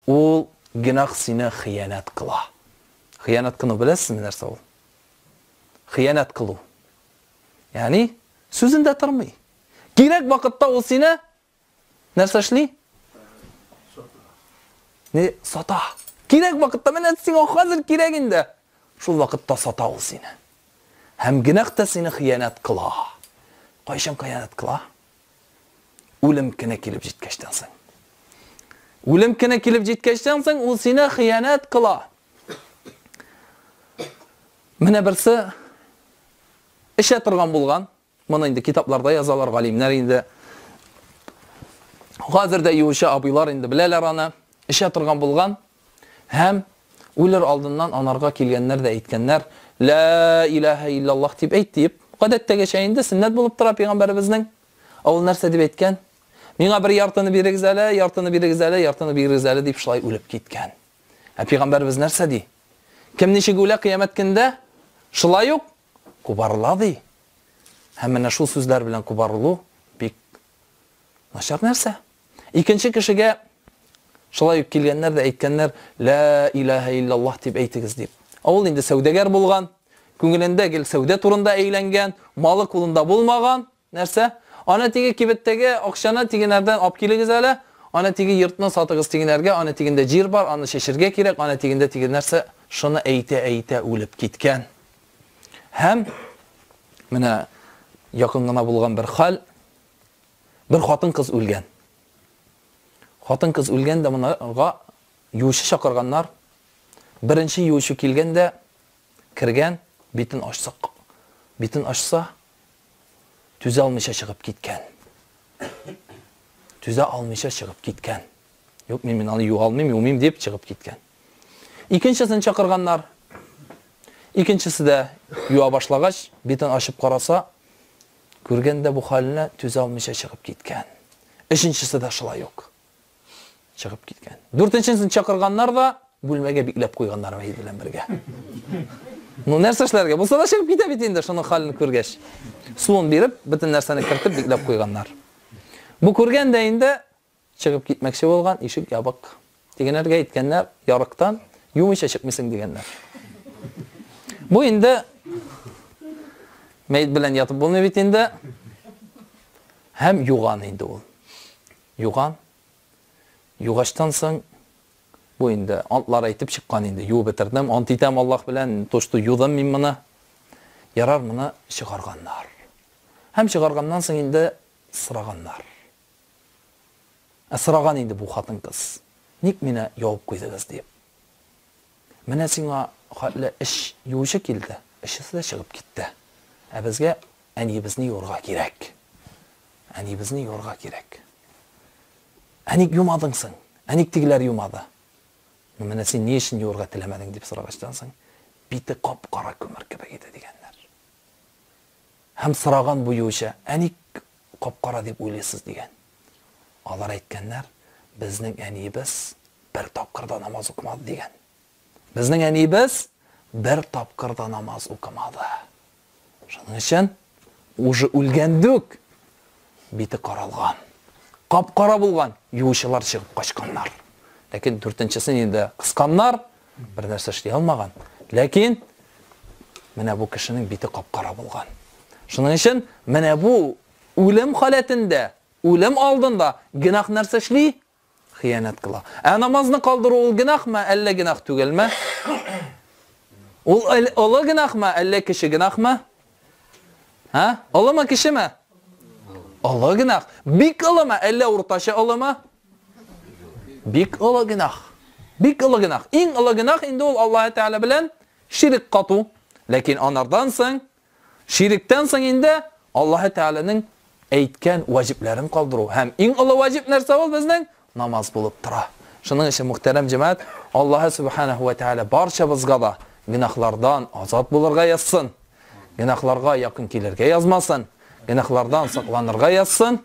Ул генак сине хыянәт кыла. Хыянәт кыну беләсезме нәрсә ул? Хыянәт кылу. Ягъни сүзендә тормый. Кирәк вакытта ул сине нәрсә эшли? Не сата. Кирәк вакытта менә сиңа хәзер кирәк инде. Шул вакытта сата ул сине. Һәм генак та сине хыянәт кыла. Кайчан хыянәт кыла? Үлем кенә килеп җиткәчтән соң. Үлем кенә килеп җиткәчтән соң ул сине хыянәт кыла. Менә берсе эчә торган булган. Моны инде китапларда язалар галимнәр инде. Хәзер дә юучы абыйлар инде беләләр аны. Эчә торган булган. Һәм, үлер алдыннан анарга килгәннәр дә әйткәннәр, Лә иләһә илләллаһ дип әйт, диеп. Гадәттәгечә инде, сөннәт булып тора пәйгамбәребезнең. Ә ул нәрсә дип әйткән? Миңа бер яртыны бирегез әле, яртыны бирегез әле, яртыны бирегез әле, дип шулай үлеп киткән. Ә пәйгамбәребез нәрсә ди? Кем ничек үлә кыямәт көндә, шулай ук кубарыла, ди. Һәм менә шул сүзләр белән кубарылу бик Начар нәрсә? Икенче кешегә шулай ук килгәннәр дә әйткәннәр, лә илаһа иллаллаһ дип әйтегез дип. Ә ул инде сәүдәгәр булган, күңелендә гел сәүдә турында әйләнгән, малы кулында булмаган, нәрсә? Аны теге кибеттәге акчаны тигенәрдән алып килегез әле, аны теге йортны сатыгыз тигенәргә, аны тигендә җир бар, аны чәчергә кирәк, аны тигендә тиген нәрсә? Шуны әйтә-әйтә үлеп киткән. Һәм менә якын гына булган бер хәл, бер хатын-кыз үлгән. Хатын-кыз үлгән дә монага юучы чакырганнар. Беренче юучы килгән дә кергән, битен ачса, битен ачса, түзә алмыйча чыгып киткән. Түзә алмыйча чыгып киткән. Юк, мин аны юа алмыйм, юмыйм, дип чыгып киткән. Икенчесен чакырганнар. Икенчесе дә юа башлагач, битен ачып караса, күргәндә бу хәленә түзә алмыйча чыгып киткән. Өченчесе дә шулай ук чыгып киткән. Дүртенчесен чакырганнар да бүлмәгә бикләп куйганнар мәйет белән бергә. Ну, нәрсә эшләргә? Булса да чыгып китә бит инде, шуның хәлен күргәч. Суын биреп, бөтен нәрсәне кертеп бикләп куйганнар. Бу күргәндә инде Чыгып китмәкче булган, ишек ябык. Тегенәргә әйткәннәр, ярыктан юмыйча чыкмыйсың, дигәннәр. Бу инде мәет белән ятып булмый бит инде. Һәм юган инде ул. Юган. Югачтан соң бу инде антлар әйтеп чыккан инде. Юып бетердем, ант итәм Аллаһ белән, то, что юдым мин моны. Ярар, моны чыгарганнар. Һәм чыгарганнан соң инде сораганнар. Ә сораган инде бу хатын-кыз, Ник мине ябып куйдыгыз? дип. Менә сиңа хәтле эч юучы килде, эчесе дә чыгып китте. Ә безгә әниебезне юырга кирәк. Әниебезне юырга кирәк. Ә ник юмадың соң? Ә ник тегеләр юмады? Ну, менә син ни өчен юырга теләмәдең, дип сорагачтан соң, бите кап-кара күмер кебек иде, дигәннәр. Һәм сораган бу юучы, Ә ник Кап-кара дип уйлыйсыз, дигән. Алар әйткәннәр, Безнең әниебез бер тапкыр да намаз укымады, дигән. Безнең әниебез бер тапкыр да намаз укымады. Шуның өчен уже үлгән дүк бите каралган. Кап-кара булган, юучылар чыгып качканнар. Ләкин дүртенчесен инде кысканнар. Бернәрсә эшли алмаган. Ләкин менә бу кешенең бите кап-кара булган. Шуның өчен менә бу үлем халәтендә, үлем алдында генах нәрсә эшли? Хыянәт кыла. Ә намазны калдыру ул генахмы, әллә генах түгелме? Ул олы генахмы, әллә кече генахмы? Һә? Олымы, кечеме? Олы генах. Бик олымы, әллә уртача олымы? Бик олы генах. Бик олы генах. Иң олы генах инде ул Аллаһ Тәгалә белән ширик кату. Ләкин анардан соң, шириктән соң инде Аллаһ Тәгаләнең әйткән ваҗибләрен калдыру. Һәм иң олы ваҗиб нәрсә ул безнең? Намаз булып тора. Шуның өчен мөхтәрәм җәмәгать, Аллаһ Субханаһу ва Тәгалә барчабызга да генахлардан азат булырга язсын. Генахларга якын килергә язмасын. Генахлардан сакланырга язсын.